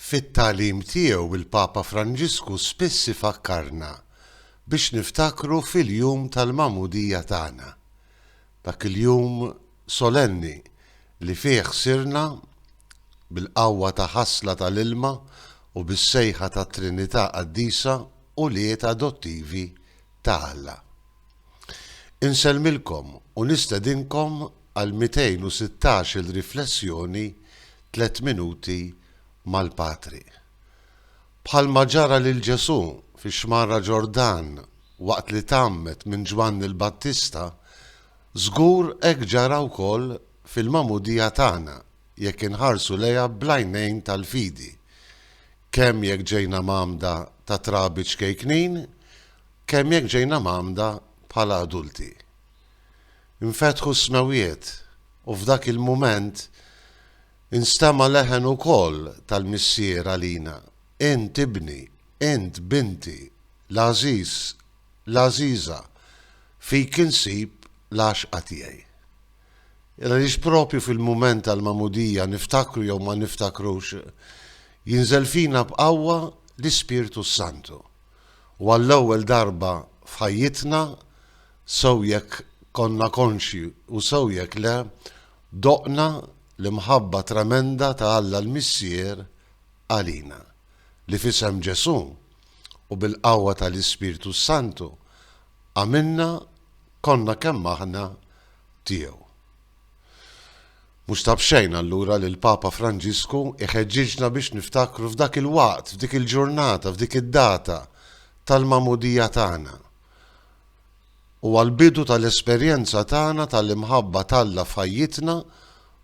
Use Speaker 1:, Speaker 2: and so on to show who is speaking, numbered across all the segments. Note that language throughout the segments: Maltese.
Speaker 1: Fit-tagħlim tiegħu il-Papa Franġisku spiss ifakkarna biex niftakru fil-jum tal-magħmudija tagħna, dak il-jum solenni li fih sirna, bil-qawwa ta' ħasla tal-ilma u bis-sejħa tat-Trinità Qaddisa, ulied adottivi ta' Alla. Insellmilkom u nistedinkom għal 216-il riflessjoni Tliet Minuti mal-Patri. Bħalma ġara lil Ġesù fix-Xmara Ġordan waqt li tgħammed minn Ġwanni l-Battista, żgur hekk ġara wkoll fil-magħmudija tagħna jekk inħarsu lejha bl-għajnejn tal-fidi. kemm jekk ġejna mgħammda ta' trabi ċkejknin, kemm jekk ġejna mgħammda bħala adulti. Infetħu s-smewwiet u f'dak il-mument instema' leħen ukoll tal-Missier għalina, Int ibni, int binti, l-għażiż, l-għażiża, fik insib l-għaxqa tiegħi. Għaliex proprju fil-mument tal-Magħmudija niftakru jew ma niftakrux, jinżel fina b'qawwa l-Ispirtu s-Santu. U għall-ewwel darba f'ħajjitna, sew jekk konna konxji u sew jekk le, doqna l-imħabba tremenda ta' Alla l-Missier għalina, li f'isem Ġesù u bil-qawwa tal-Ispirtu s-Santu għamilna konna kemm aħna tiegħu. Mhux ta' b'xejn allura li l-Papa Franġisku jħeġġiġna biex niftakru f'dak il-waqt, f'dik il-ġurnata, f'dik id-data tal-magħmudija tagħna. Huwa l-bidu tal-esperjenza tagħna tal-imħabba t'Alla f'ħajjitna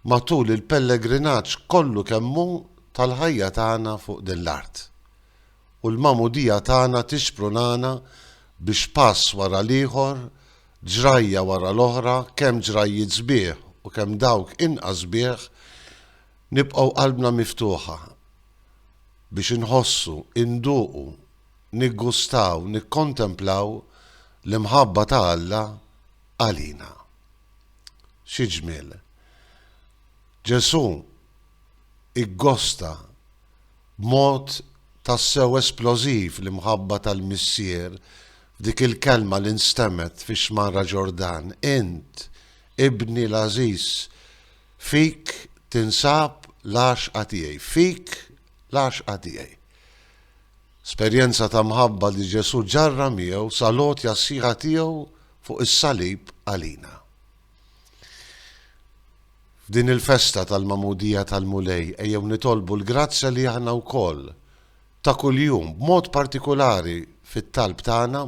Speaker 1: matul il-pellegrinaġġ kollu kemm hu tal-ħajja tagħna fuq din l-art. U l-magħmudija tagħna tixprunana biex pass wara l-ieħor Ġrajja wara l-oħra, kemm ġrajjiet sbieħ u kemm dawk inqas sbieħ, nibqgħu qalbna miftuħa biex inħossu, induqu, niggustaw, nikkontemplaw l-imħabba ta' Alla għalina. Xi ġmiel! Ġesù iggosta B'mod tassew esplożiv l-imħabba tal-Missier f'dik il-kelma li nstemgħet fix-xmara Ġordan, Int, Ibni l-għażiż, fik tinsab l-għaxqa tiegħi, fik l-għaxqa tiegħi. Esperjenza ta' mħabba li Ġesù ġarrab miegħu sal-għotja sħiħa tiegħu fuq is-salib għalina. F'din il-festa tal-Magħmudija tal-Mulej ejjew nitolbu l-grazzja li aħna wkoll, ta' kuljum, b'mod partikulari fit-talb tagħna,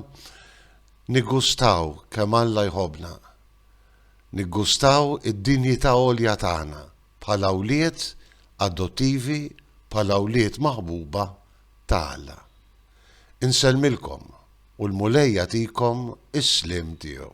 Speaker 1: niggustaw kemm Alla jħobbna. Niggustaw id-dinjità għolja tagħna bħala wlied adottivi, bħala wlied maħbuba ta' Alla. Insellmilkom u l-Mulej jagħtikom is-sliem tiegħu.